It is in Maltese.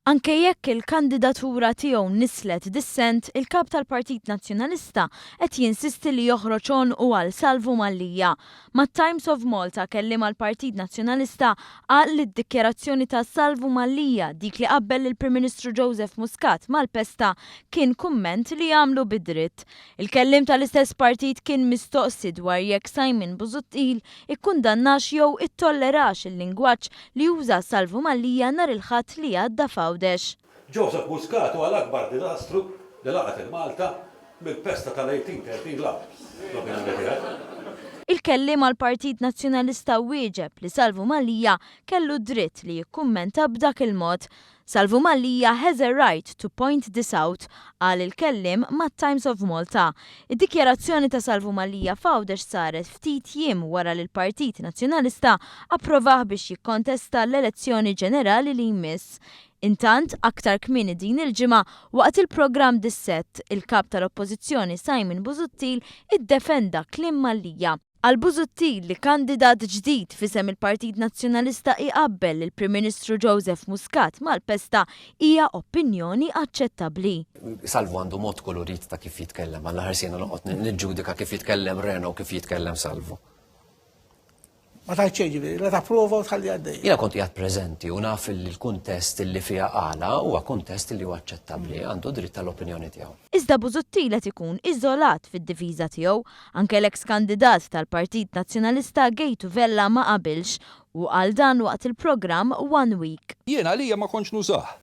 Anke jekk il-kandidatura tiegħu nisslet dissent, il-Kap tal-Partit Nazzjonalista qed jinsisti li joħroġ għonqu għal Salvu Mallia. Mat-Times of Malta kelliem għall-Partit Nazzjonalista qal li d-dikjarazzjoni ta' Salvu Mallia, dik li qabbel lill-Prim Ministru Joseph Muscat mal-pesta, kien kumment li għamlu bid-dritt. Il-kelliem tal-istess partit kien mistoqsi dwar jekk Simon Busuttil ikkundannax jew ittollerax il-lingwaġġ li uża Salvu Mallia nhar il-Ħadd li għadda f'Għawdex. Joseph Muscat huwa l-akbar diżastru li laqgħet lil Malta mill-pesta tal-1830 l-hawn, l-opinjoni tiegħi. Il-kelliem għall-Partit Nazzjonalista wieġeb li Salvu Mallia kellu d-dritt li jikkummenta b'dak il-mod. Salvu Mallia has a right to point this out, qal il-kelliem mat-Times of Malta. Id-dikjarazzjoni ta' Salvu Mallia f'Għawdex saret ftit jiem wara li l-Partit Nazzjonalista approvah biex jikkontesta l-elezzjoni ġenerali li jmiss. Intant, aktar kmieni din il-ġimgħa, waqt il-programm Dissett, il-Kap tal-Oppożizzjoni Simon Busuttil iddefenda kliem Mallia. Għal Busuttil, li kandidat ġdid f'isem il-Partit Nazzjonalista iqabbel lill-Prim Ministru Joseph Muscat mal-pesta hija opinjoni aċċettabbli. Salvu għandu mod kulurit ta' kif jitkellem, għal l-aħħar siegħna noqgħod niġġudika kif jitkellem Reno u kif jitkellem Salvu. Ma tgħid xejn ġifieri, la tapprova u tħalli għaddej. Jiena kont qiegħed preżenti u naf li l-kuntest li fiha qala huwa kuntest li huwa aċċettabbli, għandu dritt tal-opinjoni tiegħu. Iżda Busuttil qed ikun iżolat fid-difiża tiegħu. Anke l-eks kandidat tal-Partit Nazzjonalista Gejtu Vella ma qabilx. Hu qal dan waqt il-programm One Week. Jien għalija ma kontx nużah.